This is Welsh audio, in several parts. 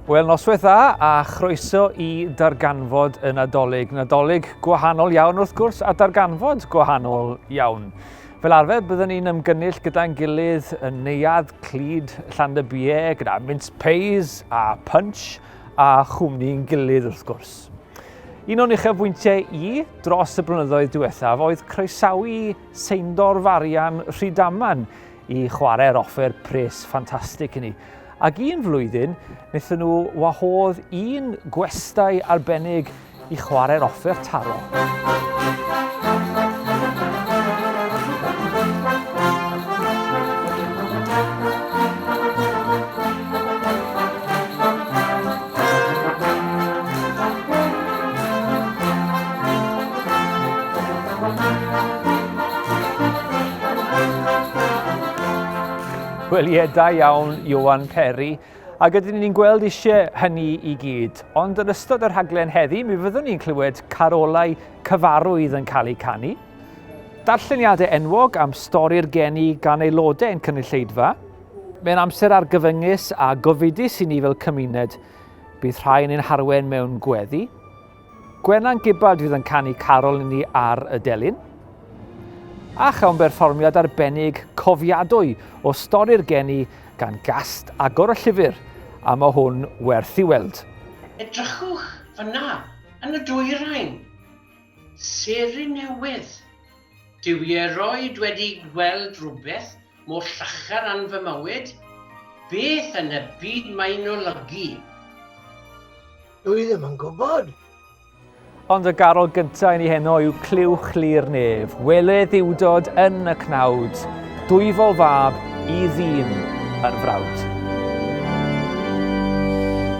Wel, noswaith dda a chroeso i darganfod y Nadolig. Nadolig gwahanol iawn wrth gwrs a darganfod gwahanol iawn. Fel arfer, byddwn ni'n ymgynnull gyda'n gilydd yn neuad clyd Llandybie gyda mince pays a punch a chwmni'n gilydd wrth gwrs. Un o'n uchafbwyntiau i dros y blynyddoedd diwethaf oedd croesawu Seindor Farian Rhydaman i chwarae'r offer pres ffantastig i ni. Ac un flwyddyn, wnaethon nhw wahodd un gwestai arbennig i chwarae'r offer taro. Wel ie, da iawn, Iwan Peri. Ac ydyn ni'n gweld eisiau hynny i gyd. Ond yn ystod yr rhaglen heddi, mi fyddwn ni'n clywed carolau cyfarwydd yn cael eu canu. Darlleniadau enwog am stori'r geni gan aelodau yn cynulleidfa. Mae'n amser argyfyngus a gofidus i ni fel cymuned. Bydd rhai yn ein harwen mewn gweddi. Gwenan Gibbard fydd yn canu carol i ni ar y delyn. A chawn berfformiad arbennig cofiadwy o stori'r geni gan gast agor y llyfr, a mae hwn werth i weld. Edrychwch fyna yn y dwyrain. Seren newydd. Dw i erioed wedi gweld rhywbeth mor llachar ran fy mywyd? Beth yn y byd mae'n olygu? Dw i ddim yn gwybod. Ond y garol gyntaf yn ei heno yw Clywch Li'r Nef. Wele ddiwdod yn y cnawd, dwyfol fab i ddyn yr frawd.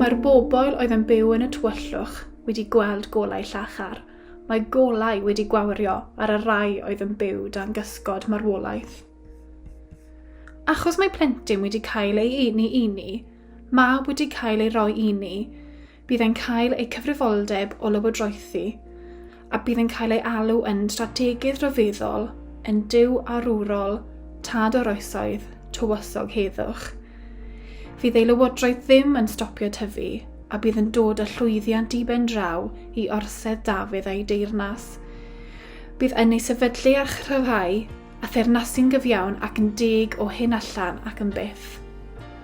Mae'r bobl oedd yn byw yn y tywyllwch wedi gweld golau llachar. Mae golau wedi gwawrio ar y rai oedd yn byw dan gysgod marwolaeth. Achos mae plentyn wedi cael ei uni uni, mab wedi cael ei roi uni, bydd yn cael eu cyfrifoldeb o lywodraethu a bydd yn cael ei alw yn strategedd rhyfeddol yn dyw arwrol tad o'r oesoedd tywysog heddwch. Fydd ei lywodraeth ddim yn stopio tyfu a bydd yn dod â llwyddiant i ben draw i orsedd Dafydd a'i deyrnas. Bydd yn ei sefydlu a chryfhau a thernasun gyfiawn ac yn deg o hyn allan ac yn byth.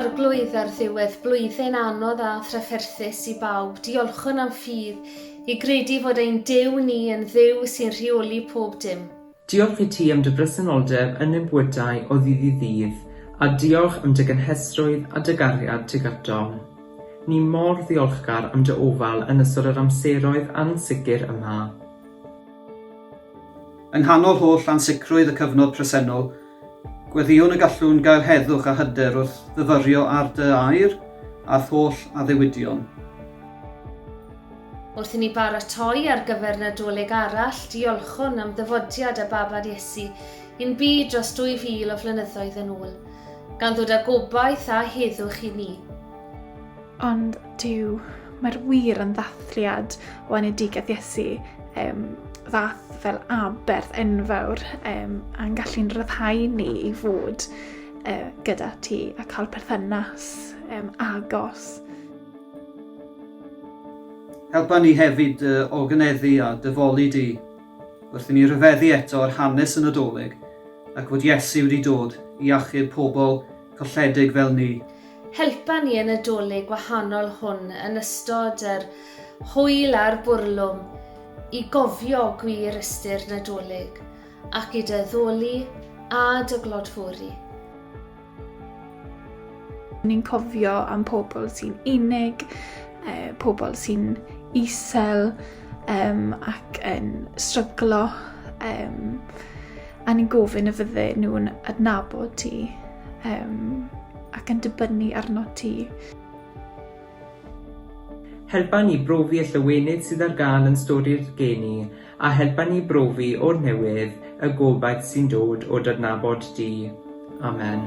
Arglwydd, ar ddiwedd blwyddyn anodd a thrafferthus i bawb, diolchwn am ffydd i gredu fod ein Duw ni yn Dduw sy'n rheoli pob dim. Diolch i ti am dy bresenoldeb yn ein bywydau o ddydd i ddydd, a diolch am dy gynhesrwydd a dy gariad tuag atom. Ni mor ddiolchgar am dy ofal yn ystod yr amseroedd ansicr yma. Yng nghanol holl ansicrwydd y cyfnod presennol, gweddïwn y gallwn gael heddwch a hyder wrth fyfyrio ar dy air a'th holl addewidion. Wrth i ni baratoi ar gyfer Nadolig arall, diolchwn am ddyfodiad a babad Iesu i'n byd dros 2000 o flynyddoedd yn ôl, gan ddod â gobaith a heddwch i ni. Ond Duw, mae'r wir yn ddathliad o enedigaeth Iesu, um, ddath fel aberth enfawr um, a'n gallu'n rhyddhau ni i fod uh, gyda ti a cael perthynas um, agos. Helpa ni hefyd dy oganeddu a dy foli di, wrth i ni ryfeddu eto ar hanes y Nadolig ac fod Iesu wedi dod i achub pobl colledig fel ni. Helpa ni y Nadolig wahanol hwn yn ystod yr hwyl a'r bwrlwm i gofio gwir ystyr Nadolig ac i dy addoli a dy glodfori. Ni'n cofio am pobl sy'n unig, eh, pobl sy'n isel um, ac yn stryglo um, a ni'n gofyn y fydde nhw'n adnabod ti um, ac yn dibynnu arno ti. Helpa ni brofi y llawenydd sydd ar gael yn stori'r geni A helpa ni brofi o'r newydd y gobaith sy'n dod o d'adnabod di. Amen.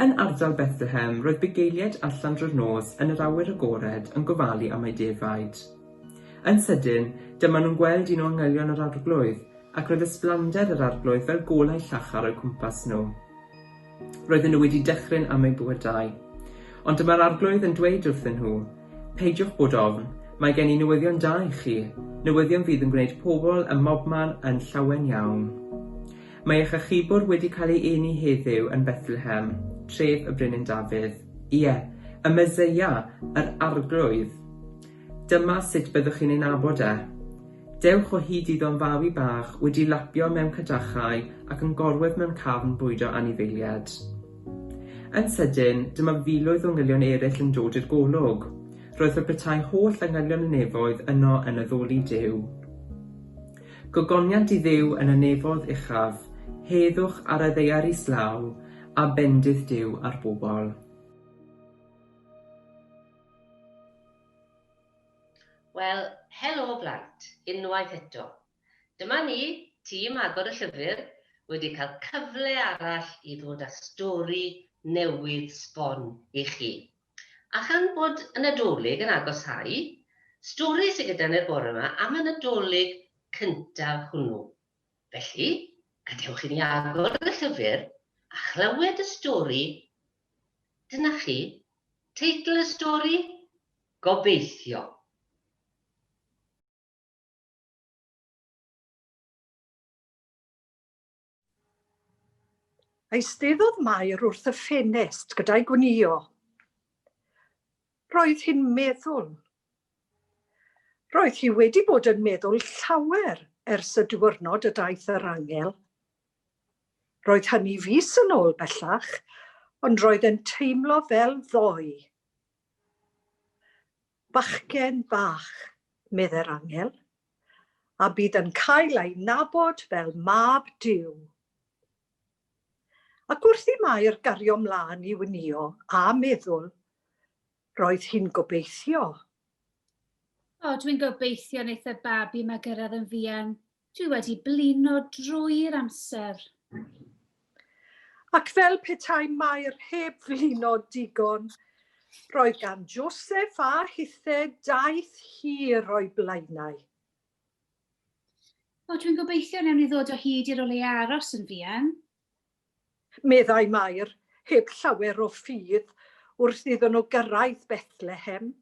Yn ardal Bethlehem, roedd bugeiliaid allan drwy'r nos yn yr awyr agored yn gofalu am eu defaid. Yn sydyn, dyma nhw'n gweld un o angylion yr Arglwydd, ac roedd ysblander yr Arglwydd fel golau llachar o'u cwmpas nhw. Roedden nhw wedi dychryn am eu bywydau. Ond dyma'r Arglwydd yn dweud wrthyn nhw, Peidiwch bod ofn, mae gen i newyddion da i chi, newyddion fydd yn gwneud pobl ym mobman yn llawen iawn. Mae eich achubwr wedi cael ei eni heddiw yn Bethlehem, tref y Brenin Dafydd. Ie, y Meseia, yr Arglwydd. Dyma sut byddwch chi'n ei nabod e. Dewch o hyd iddo'n fawi bach wedi lapio mewn cadachau ac yn gorwedd mewn cafn bwydo anifeilied. Yn sydyn, dyma filoedd o ngylion eraill yn dod i'r golwg. Roedd fe petai holl angylion y nefoedd yno yn addoli Duw. Gogoniant i Dduw yn y nefoedd uchaf, heddwch ar y ddaear islaw, a bendith Duw ar bobl. Wel, helo blant, unwaith eto. Dyma ni, tîm Agor y Llyfr, wedi cael cyfle arall i ddod â stori newydd sbon i chi. A chan bod y Nadolig yn agosáu, stori sy gyda ni'r bore 'ma am y Nadolig cyntaf hwnnw. Felly, gadewch i ni agor y llyfr a chlywed y stori Dyna chi teitl y stori? Gobeithio. Eisteddodd Mair wrth y ffenest gyda'i gwnïo. Roedd hi'n meddwl. Roedd hi wedi bod yn meddwl llawer ers y diwrnod y daeth yr angel. Roedd hynny fis yn ôl bellach, ond roedd e'n teimlo fel ddoe. Bachgen bach, medde'r angel, a bydd yn cael ei nabod fel Mab Duw. Ac wrth i Mair gario mlaen i wnïo a meddwl, roedd hi'n gobeithio. O, dwi'n gobeithio wneith y babi 'ma gyrraedd yn fuan, Dwi wedi blino drwy'r amser. Ac fel petai Mair heb flino digon, roedd gan Joseph a Hithe daith hir o'i blaenau. O, dwi'n gobeithio newn ni ddod o hyd i'r o le aros yn fuan. Meddai Mair, heb llawer o ffydd, wrth iddyn nhw gyrraedd Bethlehem.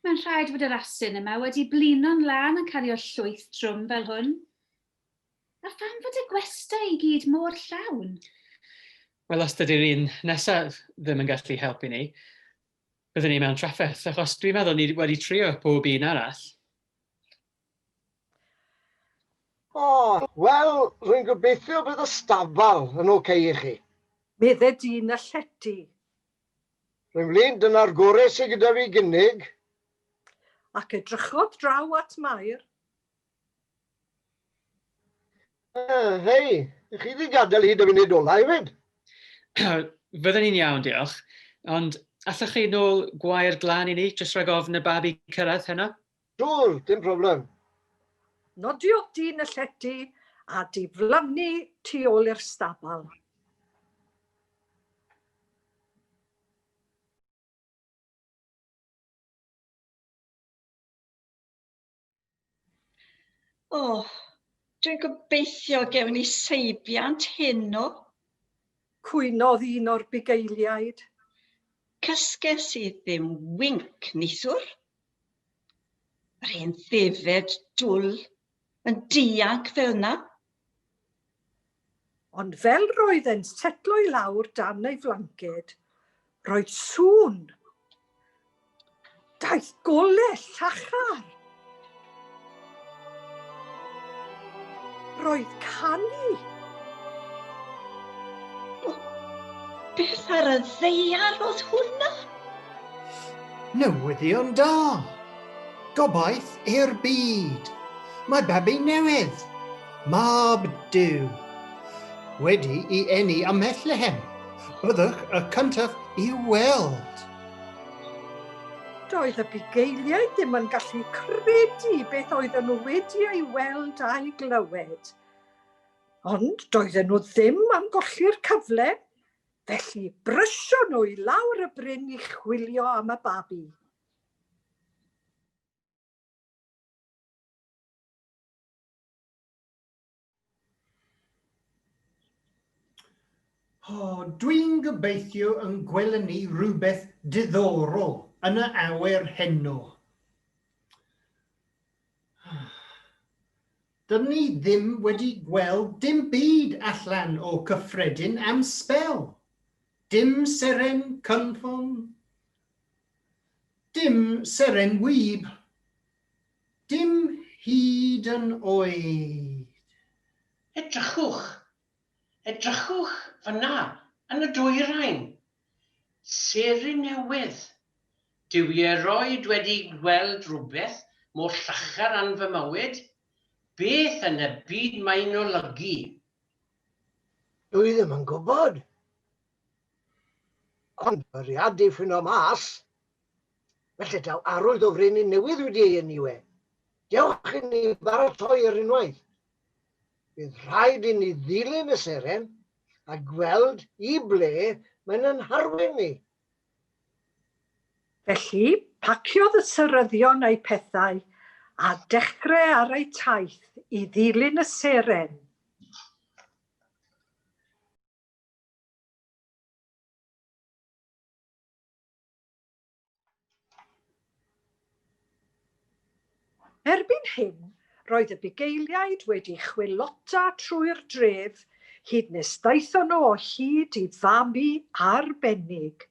Mae'n rhaid fod yr asyn yma wedi blino'n lân yn cario llwyth trwm fel hwn. A pham fod y gwestai i gyd mor llawn? Wel, os dydy'r un nesaf ddim yn gallu helpu ni, byddwn ni mewn trafferth, achos dwi'n meddwl ni wedi trio pob un arall. O, wel, rwy'n gobeithio bydd y stafall yn ocei i chi. Medde dyn y llety. Rhoi mlaen, dyna'r gorau sydd gyda fi gynnig. Ac edrychodd draw at Mair. Uh, hei, ych chi wedi gadael hyd y funud ola hefyd? Fydden ni'n iawn, diolch. Ond allwch chi nôl gwair glan i ni, jyst rhag ofn y babi cyrraedd heno? Siŵr, dim problem. Nodiodd dyn y llety a diflannu tu ôl i'r stabal. O, dwi'n gobeithio gewn ni seibiant heno. Cwynodd un o'r bugeiliaid. Cysges i ddim winc, neithiwr. Yr hen ddefed dwl yn dianc fel yna. Ond fel roedd e'n setlo i lawr dan ei flanced, roedd sŵn. Daeth golau llachar. Roedd canu! Beth ar y ddeiar oedd hwnna? Newyddion da! Gobaith i'r byd! Mae babi newydd, mab Duw, wedi i eni ym Mhethlehem. Byddwch y cyntaf i weld. Doedd y bugeiliaid ddim yn gallu credu beth oedden nhw wedi ei weld a'i glywed. Ond doedden nhw ddim am golli'r cyfle, felly brysio nhw i lawr y bryn i chwilio am y babi. Oh, Dwi'n gobeithio yn gweld ni rhywbeth diddorol yn y awyr heno. Dyn ni ddim wedi gweld dim byd allan o cyffredin am sbel. Dim seren cynffon. Dim seren wyb. Dim hyd yn oed! Edrychwch! Edrychwch fan'na yn y dwyrain! Seren newydd! Dw i erioed wedi gweld rhywbeth mor llachar yn fy mywyd! Beth yn y byd mae'n olygu? Dw i ddim yn gwybod! Ond bwriadu ffinno mas Felly daw arwydd o frenin newydd wedi ei enw e. Dewch i ni baratoi ar unwaith. Bydd rhaid i ni ddilyn y seren a gweld i ble mae'n yn harwen ni. Felly, paciodd y seryddion eu pethau a dechre ar eu taith i ddilyn y seren. Erbyn hyn, roedd y bugeiliaid wedi chwilota trwy'r dref hyd nes daethon nhw o hyd i fabi arbennig.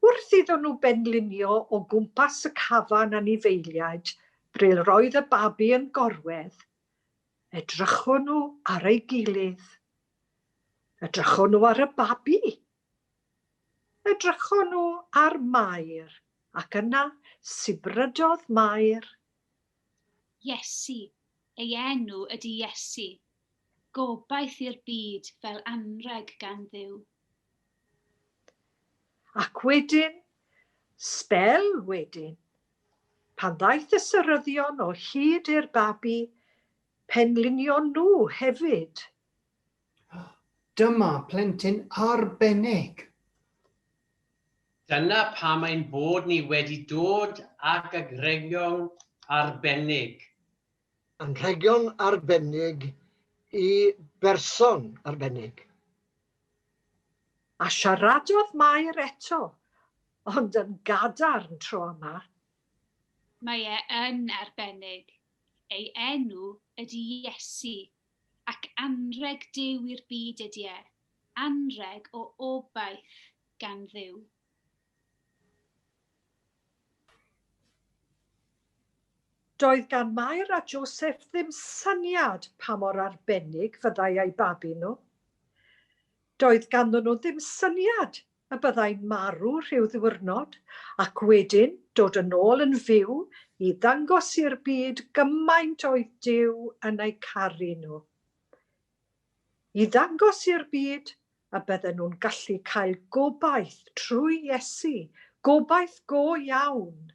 Wrth iddon nhw benlinio o gwmpas y cafan anifeiliaid bril roedd y babi yn gorwedd, edrychon nhw ar ei gilydd. Edrychon nhw ar y babi. Edrychon nhw ar Mair, ac yna sibrydodd Mair. Iesu, ei enw ydi Iesu, gobaith i'r byd fel anrheg gan Dduw. Ac wedyn, sbel wedyn, pan ddaeth y seryddion o hyd i'r babi, penlinion nhw hefyd. Dyma plentyn arbennig! Dyna pam ein bod ni wedi dod ag anrhegion arbennig. Anrhegion arbennig i berson arbennig. A siaradodd Mair eto, ond yn gadarn tro yma. Mae e yn arbennig. Ei enw ydy Iesu. Ac anrheg Duw i'r byd ydy e, anrheg o obaith gan Dduw. Doedd gan Mair a Joseph ddim syniad pa mor arbennig fyddai eu babi nhw. Doedd ganddyn nhw ddim syniad y byddai'n marw rhyw ddiwrnod ac wedyn dod yn ôl yn fyw i ddangos i'r byd gymaint oedd Duw yn eu caru nhw. I ddangos i'r byd y bydden nhw'n gallu cael gobaith trwy Iesu, gobaith go iawn.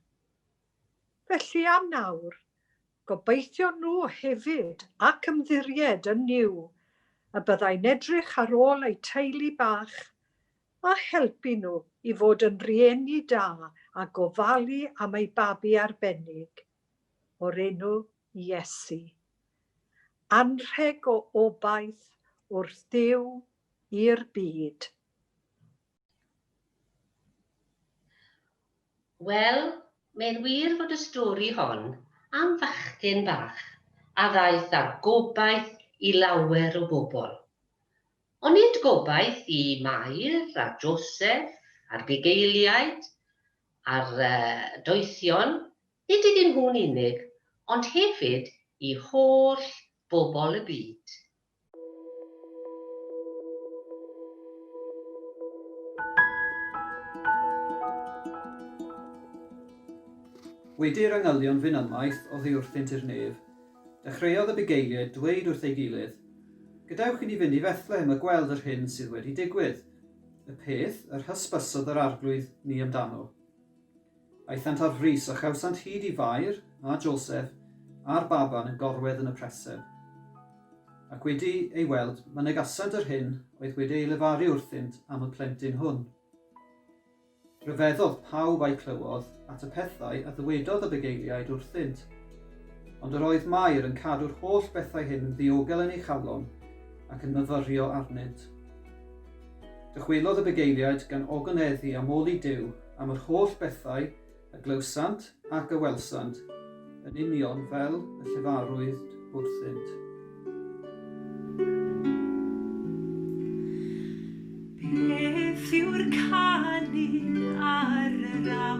Felly am nawr, Gobeithion nhw hefyd, ac ymddiried yn Nuw, y byddai'n edrych ar ôl eu teulu bach, a helpu nhw i fod yn rieni da a gofalu am eu babi arbennig, o'r enw Iesu. Anrheg o obaith wrth Dduw i'r byd. Wel, mae'n wir fod y stori hon am fachgen bach a ddaeth â gobaith i lawer o bobl. Ond nid gobaith i Mair a Joseph a'r bugeiliaid a'r doethion, nid iddyn nhw'n unig, ond hefyd i holl bobl y byd. Wedi'r angylion fyn ymaith oddiwrthynt i'r nef, dechreuodd y bugeiliaid dweud wrth ei gilydd, Gadewch i ni fynd i Fethlehem a gweld yr hyn sydd wedi digwydd, y peth yr hysbysodd yr Arglwydd ni amdano. Aethant ar frys, a chawsant hyd i Fair, a Joseph, a'r baban yn gorwedd yn y preseb. Ac wedi ei weld, mynegasant yr hyn oedd wedi ei lefaru wrthynt am y plentyn hwn. Rhyfeddodd pawb a'i clywodd at y pethau a ddywedodd y bugeiliaid wrthynt. Ond yr oedd Mair yn cadw'r holl bethau hyn yn ddiogel yn ei chalon ac yn myfyrio arnynt. Dychwelodd y bugeiliaid gan ogoneddhu am ol i Duw am yr holl bethau a glywsant ac a welsant, yn union fel y llefarwyd wrthynt. Beth yw'r canu ar yr awyr?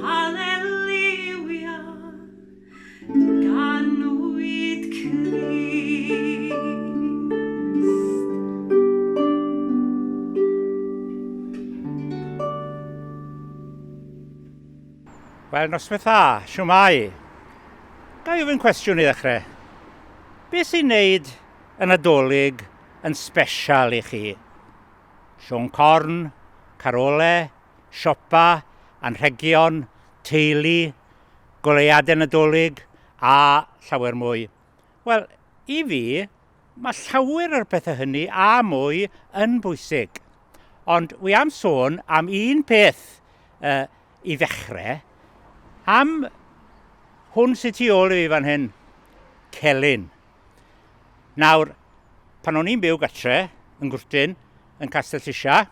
Haleliwia, ganwyd Crist. Wel, noswaith dda, siwmai. Ga i ofyn cwestiwn i ddechrau? Be sy'n neud y Nadolig yn sbesial i chi? Siôn corn, carole, siopa, anrhegion, teulu, goleuadau Nadolig a llawer mwy. Wel, i fi, mae llawer o'r pethau hynny a mwy yn bwysig. Ond wy am sôn am un peth uh, i ddechrau, am hwn sy'n tu ôl i fi fan hyn, celyn. Nawr, pan o'n i'n byw gatre, yn gwrtyn, yn Castell Tisha,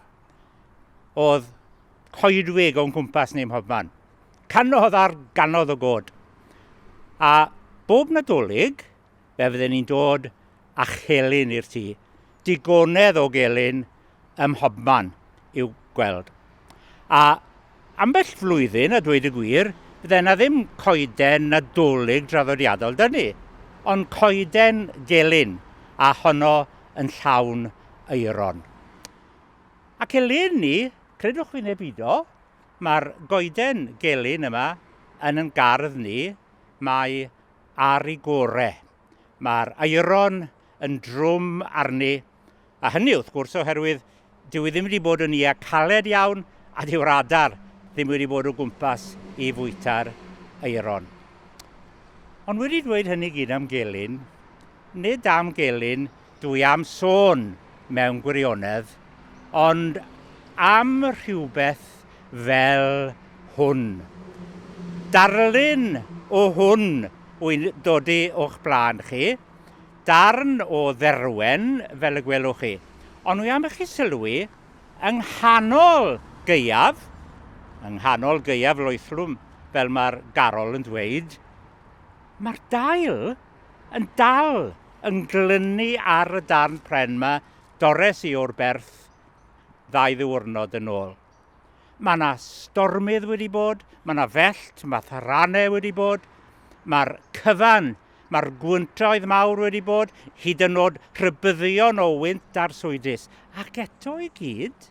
oedd coedwig o'n cwmpas ni mhob man. Canodd ar ganodd o god. A bob nadolig, fe fydden ni'n dod a chelyn i'r tŷ. Digonedd o gelyn ym mhobman i'w gweld. A ambell flwyddyn, a dweud y gwir, fydden na ddim coeden nadolig draddodiadol dyn ni, ond coeden gelyn a honno yn llawn eiron. Ac eleni, credwch fi neu beidio, mae'r goeden gelyn yma yn yn gardd ni, mae ar ei gore. Mae'r aeron yn drwm arni, a hynny wrth gwrs oherwydd dyw hi ddim wedi bod yn ia caled iawn a dyw'r adar ddim wedi bod o gwmpas i fwyta'r aeron. Ond wedi dweud hynny gyd am gelyn, nid am gelyn Dwi am sôn, mewn gwirionedd, ond am rhywbeth fel hwn. Darlun o hwn wy'n dod o'ch blaen chi, darn o dderwen fel y gwelwch chi, ond wi am i chi sylwi, yng nghanol gaeaf, yng nghanol gaeaf loethlwm, fel mae'r garol yn dweud, mae'r dail. Yn dal yn glynu ar y darn pren 'ma dores i o'r berth ddau ddiwrnod yn ôl. Mae yna stormydd wedi bod, mae yna fellt, mae tharanau wedi bod, mae'r cyfan, mae'r gwyntoedd mawr wedi bod, hyd yn oed rhybyddion o wynt arswydus. Ac eto i gyd,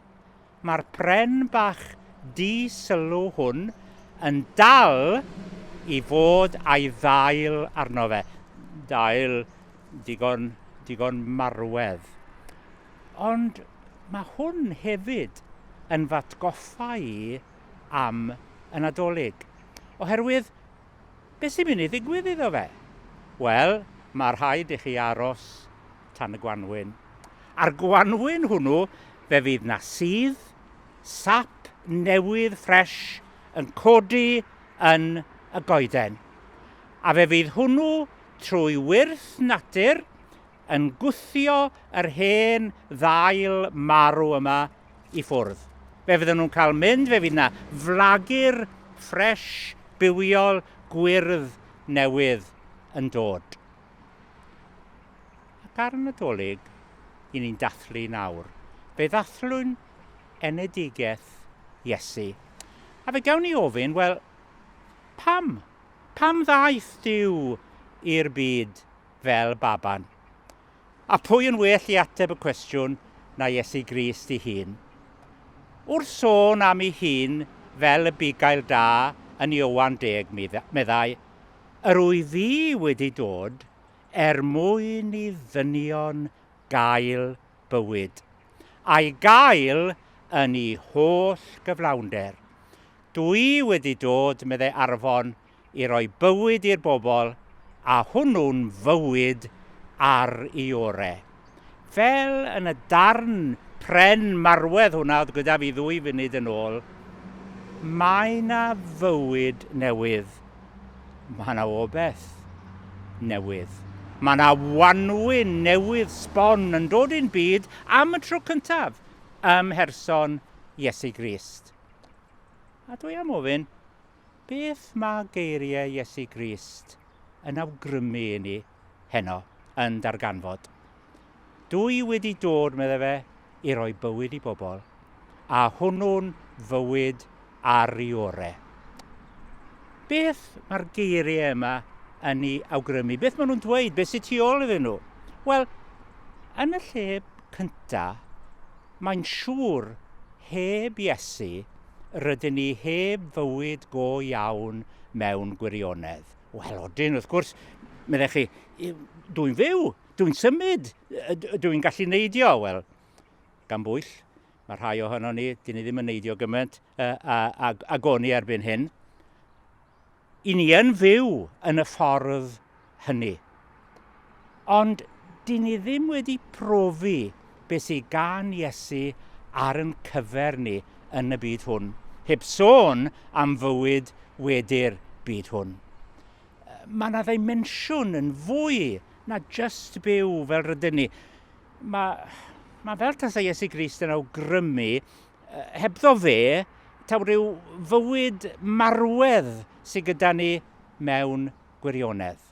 Mae'r pren bach di-sylw hwn yn dal i fod a'i ddail arno fe. Dail digon, digon marwedd. Ond mae hwn hefyd yn fatgoffa i am y Nadolig. Oherwydd, beth sy'n mynd i ddigwydd iddo fe? Wel, mae rhaid i chi aros tan y gwanwyn. A'r gwanwyn hwnnw fe fydd 'na sudd, sap newydd ffresh yn codi yn y goeden. A fe fydd hwnnw trwy wyrth natur yn gwthio yr hen ddail marw yma i ffwrdd. Fe fydden nhw'n cael mynd, fe fydd 'na flagur ffresh, bywiol, gwyrdd newydd yn dod. Ac ar y Nadolig, i ni'n dathlu nawr, fe ddathlwn enedigaeth Iesu. A fe gawn ni ofyn, wel, pam? Pam ddaeth Duw i'r byd fel baban? A pwy yn well i ateb y cwestiwn na Iesu Grist i hun? Wrth sôn am ei hun fel y bugail da yn Iowan deg, meddai, Yr oedd hi wedi dod er mwyn i ddynion gael bywyd, a'i gael yn ei holl gyflawnder. Dw i wedi dod, meddai Arfon, i roi bywyd i'r bobl, a hwnnw'n fywyd ar ei orau. Fel yn y darn pren marwedd hwnna oedd gyda fi ddwy funud yn ôl, mae 'na fywyd newydd. Mae 'na obeth newydd. Mae 'na wanwyn newydd sbon yn dod i'n byd am y tro cyntaf ym mherson Iesu Grist. A dwi am ofyn, beth mae geiriau Iesu Grist yn awgrymu i ni? heno yn darganfod. Dw i wedi dod, meddai fe, i roi bywyd i bobl, a hwnnw'n fywyd ar i ore. Beth mae'r geiriau yma yn ei awgrymu? Beth maen nhw'n dweud? Beth sy'n tu ôl iddyn nhw? Wel, yn y lle cynta, mae'n siŵr heb Iesu rydyn ni heb fywyd go iawn mewn gwirionedd. Wel, odyn, wrth gwrs, meddech chi, dwi'n fyw, dwi'n symud, dwi'n gallu neidio. Wel, gan bwyll, mae rhai ohono ni, dyn ni ddim yn neidio gymaint a, a, a, a goni erbyn hyn. I ni yn fyw yn y ffordd hynny. Ond dyn ni ddim wedi profi beth sydd gan Iesu ar yn cyfer ni yn y byd hwn, heb sôn am fywyd wedi'r byd hwn. Mae yna ddimensiwn yn fwy na just byw fel rydyn ni. Mae, mae fel tasa Iesu Grist yn awgrymu, hebddo fe, taw rhyw fywyd marwedd sydd gyda ni mewn gwirionedd.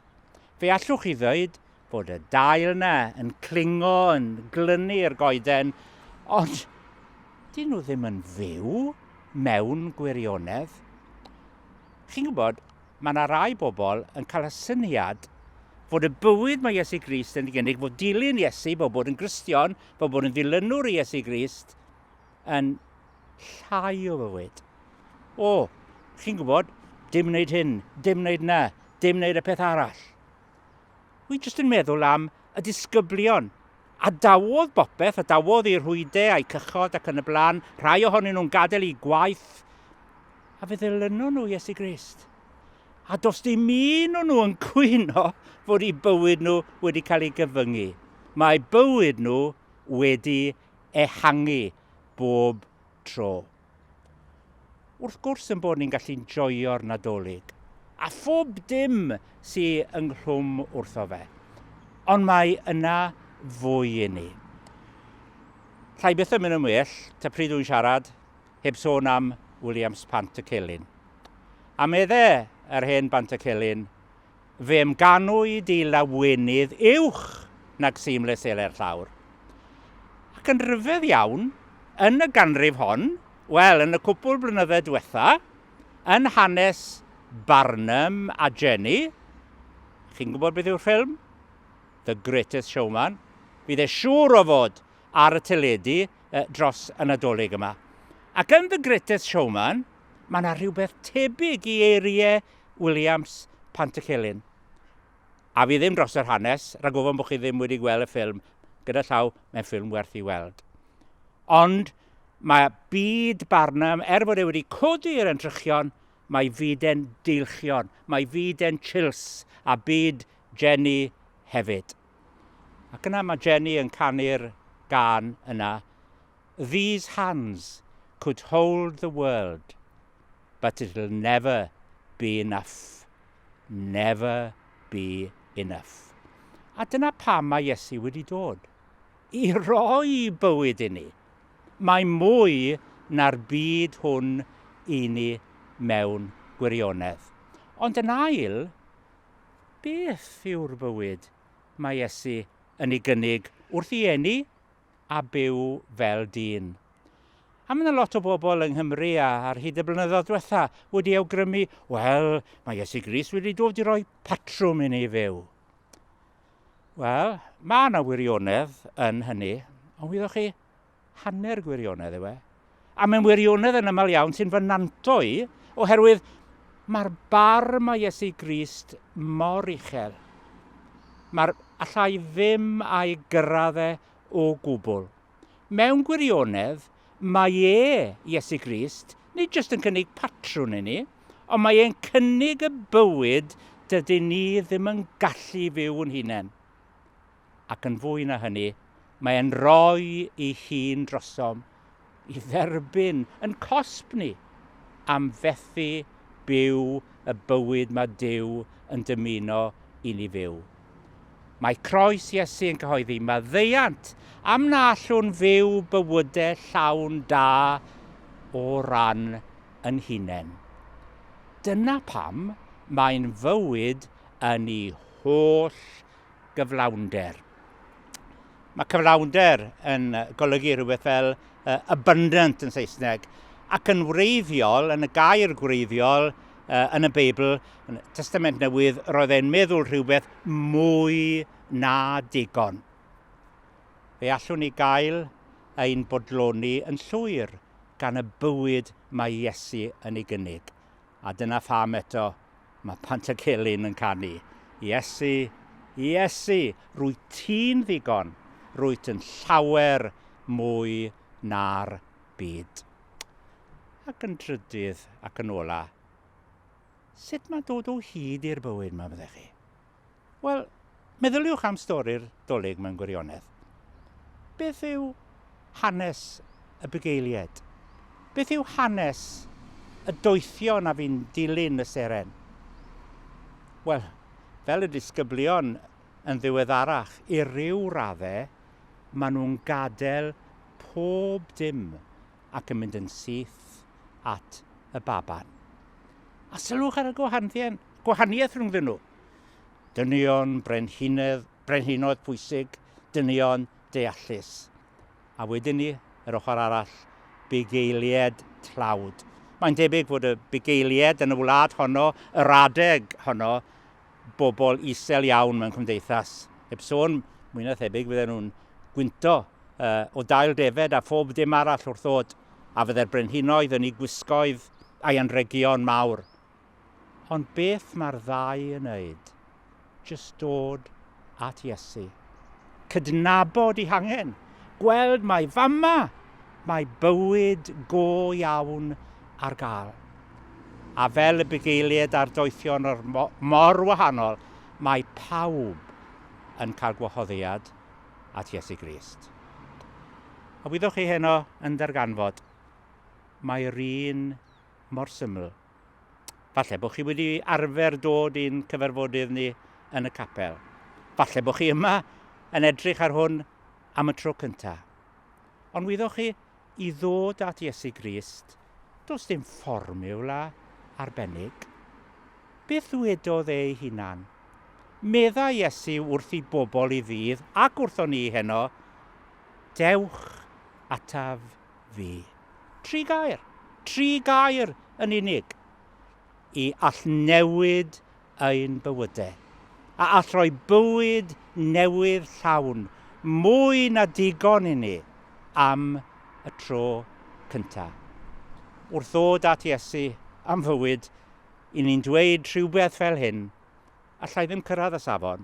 Fe allwch chi ddweud bod y dail yna yn clingo, yn glynu i'r goeden, ond dyn nhw ddim yn fyw mewn gwirionedd. Chi'n gwybod, mae yna rai bobl yn cael y syniad fod y bywyd mae Iesu Grist yn ei gynnig, bod dilyn Iesu, bod bod yn Gristion, bod bod yn ddilynwr i Iesu Grist, yn llai o fywyd. O, chi'n gwybod, dim wneud hyn, dim wneud na, dim wneud y peth arall. Wy jyst yn meddwl am y disgyblion a dawodd bopeth, a dawodd i'r rhwyde a'i cychod ac yn y blaen, rhai ohonyn nhw'n gadael i gwaith, a fe ddylynon nhw Iesu Grist. A dos dim un o'n nhw yn cwyno fod i bywyd nhw wedi cael ei gyfyngu. Mae bywyd nhw wedi ehangu bob tro. Wrth gwrs yn bod ni'n gallu'n joio'r Nadolig, a phob dim sy ynghlwm wrtho fe. Ond mae yna fwy i ni. Llai byth yn mynd yn well, ta pryd dwi'n siarad, heb sôn am Williams Pant y Celyn. A medde yr hen Bant y Celyn, Fy amganwyd i lawenydd uwch nag seamless seler llawr. Ac yn rhyfedd iawn, yn y ganrif hon, wel, yn y cwpwl blynydde diwetha, yn hanes Barnum a Jenny, chi'n gwybod beth yw'r ffilm? The Greatest Showman, fydd e siŵr o fod ar y teledu dros y Nadolig yma. Ac yn The Greatest Showman, mae yna rhywbeth tebyg i eiriau Williams, Pantycelyn. A fi ddim dros yr hanes, rhag ofon bod chi ddim wedi gweld y ffilm, gyda llaw, mae'n ffilm werth i weld. Ond mae byd Barnum, er bod e wedi codi i'r entrychion, mae fyd e'n deilchion, mae fyd e'n chills, a byd Jenny hefyd. Ac yna mae Jenny yn canu'r gan yna, These hands could hold the world but it'll never be enough. Never be enough. A dyna pam mae Iesu wedi dod. I roi bywyd inni. Mae mwy na'r byd hwn i ni mewn gwirionedd. Ond yn ail, beth yw'r bywyd mae Iesu yn ei gynnig wrth i eni a byw fel dyn. A mae 'na lot o bobl yng Nghymru a ar hyd y blynyddoedd diwetha' wedi awgrymu, wel, mae Iesu Grist wedi dod i roi patrwm i ni fyw. Wel, mae 'na wirionedd yn hynny, ond wyddoch chi, hanner gwirionedd yw e. a mewn wirionedd yn aml iawn sy'n fy nantlo i, oherwydd mae'r barn mae Iesu Grist mor uchel. Mae'r allai ddim a'i gyrraedd e o gwbl. Mewn gwirionedd, mae e, Iesu Grist, nid jyst yn cynnig patrwn i ni, ond mae e'n cynnig y bywyd dydyn ni ddim yn gallu fyw yn hunain. ac yn fwy na hynny, mae e'n rhoi ei hun drosom i dderbyn yn cosb ni am fethu byw y bywyd mae Duw yn dymuno i ni fyw. Mae croes Iesu yn cyhoeddi maddeuant am na allwn fyw bywyde llawn da o ran yn hunain. Dyna pam mae'n fywyd yn ei holl gyflawnder. Mae cyflawnder yn golygu rhywbeth fel uh, abundant yn Saesneg, ac yn wreiddiol, yn y gair gwreiddiol, uh, yn y Beibl, yn y Testament Newydd, roedd e'n meddwl rhywbeth mwy na digon. Fe allwn ni gael ein bodloni yn llwyr gan y bywyd mae Iesu yn ei gynnig. a dyna pham eto mae Pantycelyn yn canu, Iesu, Iesu, rwyt ti'n ddigon, rwyt yn llawer mwy na'r byd. Ac yn drydydd ac yn ola, sut mae dod o hyd i'r bywyd 'ma, meddech chi? Wel, meddyliwch am stori'r Dolig mewn gwirionedd. Beth yw hanes y bugeilied? Beth yw hanes y doethion a fi'n dilyn y seren? Wel, fel y disgyblion yn ddiweddarach, i ryw radde, maen nhw'n gadael pob dim ac yn mynd yn syth at y baban. A sylwch ar y gwahaniaeth gwahaniaeth rhyngddyn nhw. Dynion brenhinedd, brenhinoedd pwysig, dynion deallus. A wedyn ni, yr ochr arall, bugeilied tlawd. Mae'n debyg fod y bugeilied yn y wlad honno, yr adeg honno, bobl isel iawn mewn cymdeithas. Heb sôn, mwy na thebyg fydden nhw'n gwynto uh, o dail defed a phob dim arall wrth ddod, a fydde'r brenhinoedd yn ei gwisgoedd a'i anregion mawr Ond beth mae'r ddau yn wneud? Jyst dod at Iesu. Cydnabod ei hangen. Gweld mai fama mae bywyd go iawn ar gael. A fel y bugeiliaid a'r doethion o'r mor wahanol, mae pawb yn cael gwahoddiad at Iesu Grist. A wyddoch chi heno yn darganfod, mae'r un mor syml. Falle bod chi wedi arfer dod i'n cyfarfodydd ni yn y capel. Falle bod chi yma yn edrych ar hwn am y tro cyntaf. Ond wyddoch chi, i ddod at Iesu Grist, does dim fformiwla arbennig. Beth ddwedodd ei hunan? Medda Iesu wrth i bobl i ddydd ac wrthon ni heno, Dewch ataf fi. Tri gair, tri gair yn unig, i all newid ein bywydau, a all roi bywyd newydd llawn, mwy na digon i ni, am y tro cynta. Wrth ddod at Iesu am fywyd, i ni'n dweud rhywbeth fel hyn, Alla i ddim cyrraedd y safon,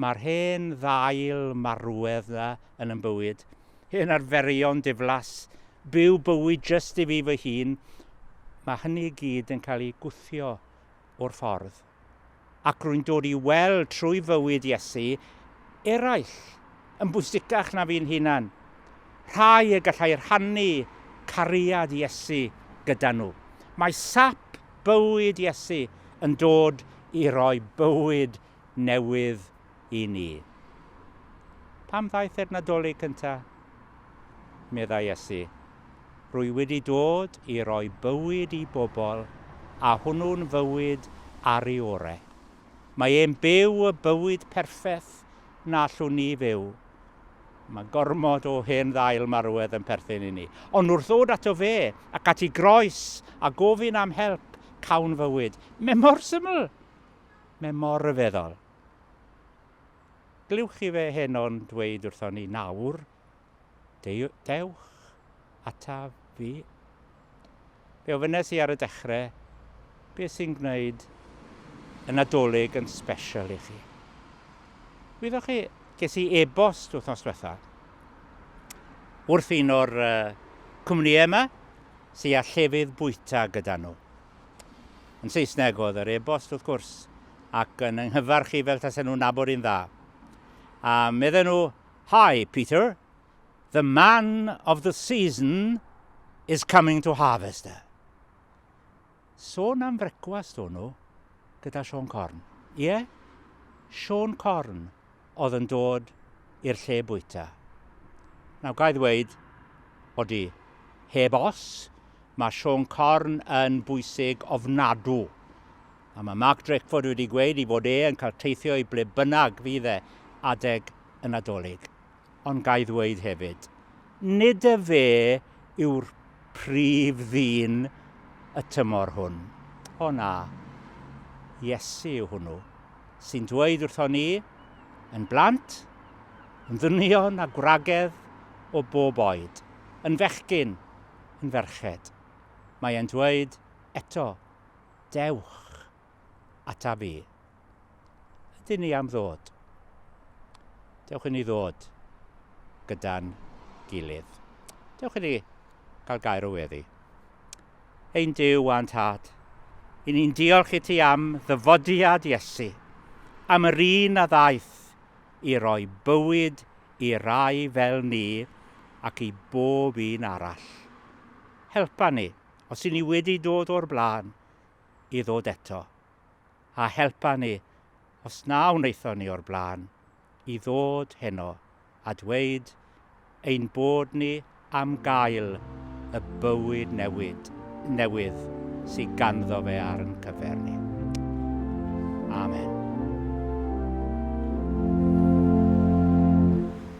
Mae'r hen ddail marwedd 'na yn 'y bywyd. Hen arferion diflas, byw bywyd jyst i fi fy hun, mae hynny i gyd yn cael ei gwthio o'r ffordd. Ac rwy'n dod i weld trwy fywyd Iesu eraill yn bwysicach na fi'n hunan, rhai y gallai rhannu cariad Iesu gyda nhw. Mae sap bywyd Iesu yn dod i roi bywyd newydd i ni. Pam ddaeth e'r Nadolig cynta? meddai Iesu. Rwy wedi dod i roi bywyd i bobl, a hwnnw'n fywyd ar ei ore. Mae e'n byw y bywyd perffaith na allwn ni fyw. Mae gormod o hen ddail marwedd yn perthyn i ni. Ond wrth ddod ato fe ac at ei groes a gofyn am help, cawn fywyd. Mae mor syml! Mae mor ryfeddol. Glywch chi fe heno'n dweud wrthon ni, nawr, dewch ataf fi. Fe ofynes i ar y dechrau, beth sy'n gwneud y Nadolig yn special i chi? Wyddoch chi, ges i e-bost wythnos diwetha wrth un o'r uh, cwmnïau yma sy'n â llefydd bwyta gyda nhw. Yn Saesneg oedd yr e-bost, wrth gwrs, ac yn yng nghyfarch i fel tasen nhw'n nabod i'n dda. A medden nhw, Hi, Peter. The man of the season is coming to Harvester. Sôn am frecwast o'n nhw gyda Siôn Corn. Ie? Siôn Corn. oedd yn dod i'r lle bwyta. Nawr, ga i ddweud, odi, heb os, mae Siôn Corn yn bwysig ofnadw. A mae Mark Drakeford wedi gweud i fod e yn cael teithio i ble bynnag fydd e adeg y Nadolig. ond ga i ddweud hefyd, nid y fe yw'r prif ddyn y tymor hwn. O na, Iesu yw hwnnw, sy'n dweud wrthon ni, yn blant, yn ddynion a gwragedd o bob oed, yn fechgyn, yn ferched. Mae e'n dweud eto, Dewch. ataf i. Ydyn ni am ddod? Dewch i ni ddod gyda'n gilydd. Dewch i ni gael gair o weddi. Ein Dyw a'n Tad, i ni'n diolch i ti am ddyfodiad Iesu, am yr un a ddaeth i roi bywyd i rai fel ni ac i bob un arall. Helpa ni, os i ni wedi dod o'r blaen, i ddod eto, a helpa ni, os na wnaethon ni o'r blaen, i ddod heno a dweud ein bod ni am gael y bywyd newid, newydd sydd ganddo fe ar yn cyfer ni. Amen.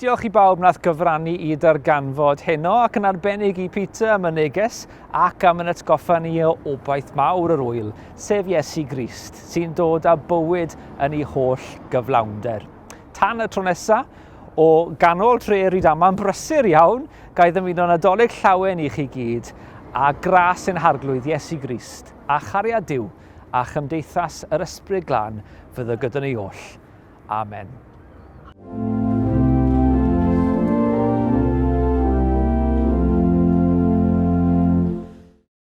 Diolch i bawb nath gyfrannu i darganfod heno ac yn arbennig i Peter am y neges ac am yn atgoffa ni o obaith mawr yr wyl, sef Iesu Grist, sy'n dod â bywyd yn ei holl gyflawnder. Tan y tro nesaf, O ganol tre Rydaman brysur iawn, ga'i ddymuno Nadolig llawen i chi gyd, a gras yn Harglwydd Iesu Grist, a chariad Duw, a chymdeithas yr Ysbryd Glân fyddo gyda ni oll. Amen.